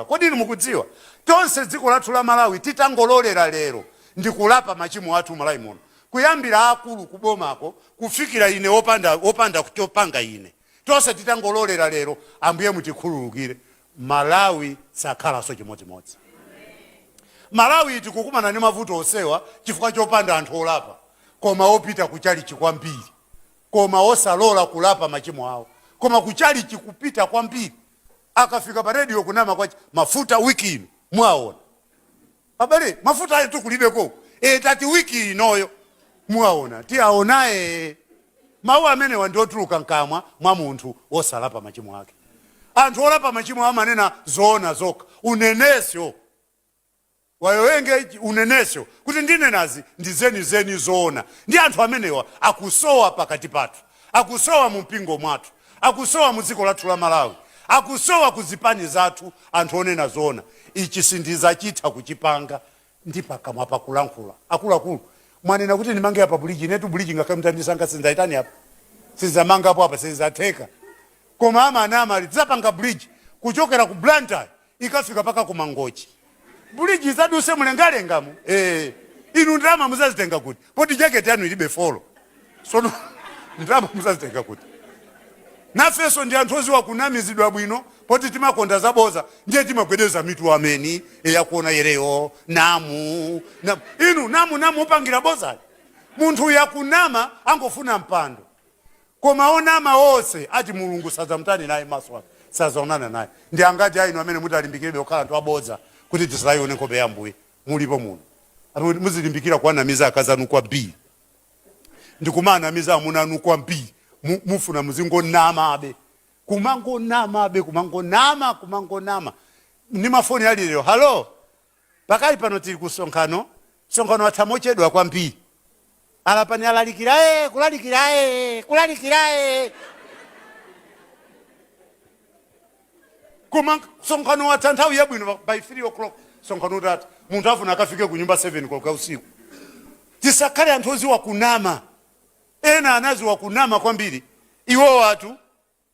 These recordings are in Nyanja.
Kodi inu mukudziwa, tonse dziko lathu la Malawi titangololera lero ndikulapa machimo athu Malawi muno, kuyambira aakulu ku bomako kufikira ine wopanda, wopanda chopanga ine, tonse titangololera lero Ambuye mutikhululukire, Malawi sakhalanso chimodzimodzi. Malawi tikukumana ndi mavuto onsewa chifukwa chopanda anthu olapa koma opita ku chalichi kwambiri koma osalola kulapa machimo awo koma ku chalichi kupita kwambiri. Akafika pa radio kunama kwake mafuta week ino muaona. Abale mafutayetu kulibeko uku ee tati week inoyo muaona tiaona ee. Mau amenewa ndiotuluka mkamwa mwa munthu wosalapa machimo ake. Anthu olapa machimo awo amanena zoona zokha uneneso. wayowenge uneneso kuti ndinenazi ndi zeni zeni zoona ndi anthu amenewa akusowa pakati pathu akusowa mu mpingo mwathu akusowa mu dziko lathu la malawi akusowa ku zipani zathu anthu onena zoona ichi sindizachitha kuchipanga ndi pakamwa pakulankhula akuluakulu mwanena kuti ndimange apa buliji inetu buliji ngakhale mtandisanga sindzaitani apa sindzamangapo apa sizatheka koma amanama ali tidzapanga buliji kuchokera ku blantyre ikafika paka ku mangochi buliji izaduse mulengalengamu ee inu ndalama muzazitenga kuti poti jaketi yanu ilibe folo sono ndalama muzazitenga kuti nafenso ndi anthu oziwa kunamizidwa bwino poti timakonda zaboza ndiye timagwedeza mitu ameni eyakuona yereyo namu, namu inu namu namu upangira boza munthu yakunama angofuna mpando Koma onama onse ati Mulungu sadzamtani naye, maso ake sadzaonana naye. Ndi angati a inu amene mutalimbikirebe kukhala anthu abodza kuti tisadzaione nkhope ya Ambuye? Mulipo muno amene muti muzilimbikira kuwanamiza akazi anu kwambiri, ndi kumaanamiza amuna anu kwambiri, mu, mufuna muzingonamabe, kumangonamabe, kumangonama, kumangonama ndi mafoni ali lero? Hallo! Pakali pano tiri ku msonkhano, msonkhano watha mochedwa kwambiri. A. Lapani alaliki a. Kulalikira a. Kulalikira a. Koma msonkhano watha nthawi yabwino, by 3 koloko msonkhano utatha. Munthu afuna akafike kunyumba 7 koloko ya usiku. Tisakhale anthu oziwa kunama. Ena anaziwa kunama kwambiri. Iwowatu.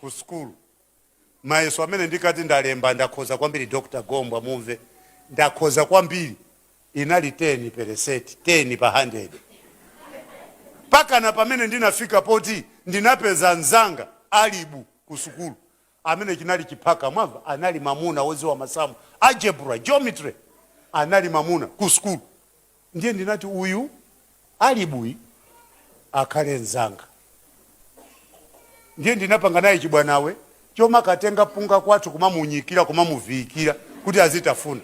ku sukulu mayeso amene ndikati ndalemba ndakhoza kwambiri dr gombwa mumve ndakhoza kwambiri inali 10 peresenti 10 pa 100 mpakana pamene ndinafika poti ndinapeza mzanga alibu ku sukulu amene chinali chiphaka mwamva anali mamuna woziwa masamu algebra geometry anali mamuna ku sukulu Ndiye ndinati, Uyu Alibu akhale mnzanga. Ndiye ndinapanga naye chibwanawe chomakatenga mpunga kwathu kumamunyikira, kumamuviyikira kuti azitafuna.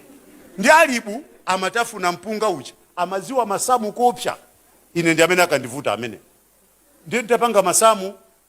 Ndiye Alibu amatafuna mpunga uja, amadziwa masamu koopsa. Ine ndi amene akandivuta ameneyo. Ndiye nditapanga masamu.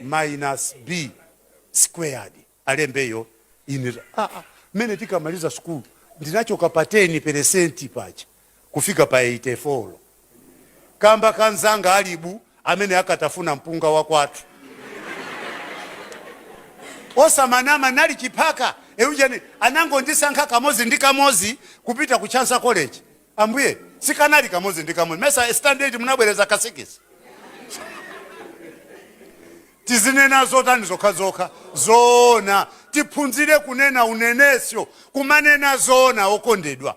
minus B squared Alembeyo ine mmene tikamaliza school ndinachoka pa 10 peresenti paja kufika pa 84 kamba ka mnzanga Alibu amene ankatafuna mpunga wa kwathu osamanama nali chiphaka eujani anangondisankha kamodzi ndi kamodzi kupita ku Chancellor College Ambuye sikanali kamodzi ndi kamodzi mesa Standard munabwereza ka sikisi tizinena zotani zokhazokha zoona tiphunzire kunena unenesko kumanena zoona okondedwa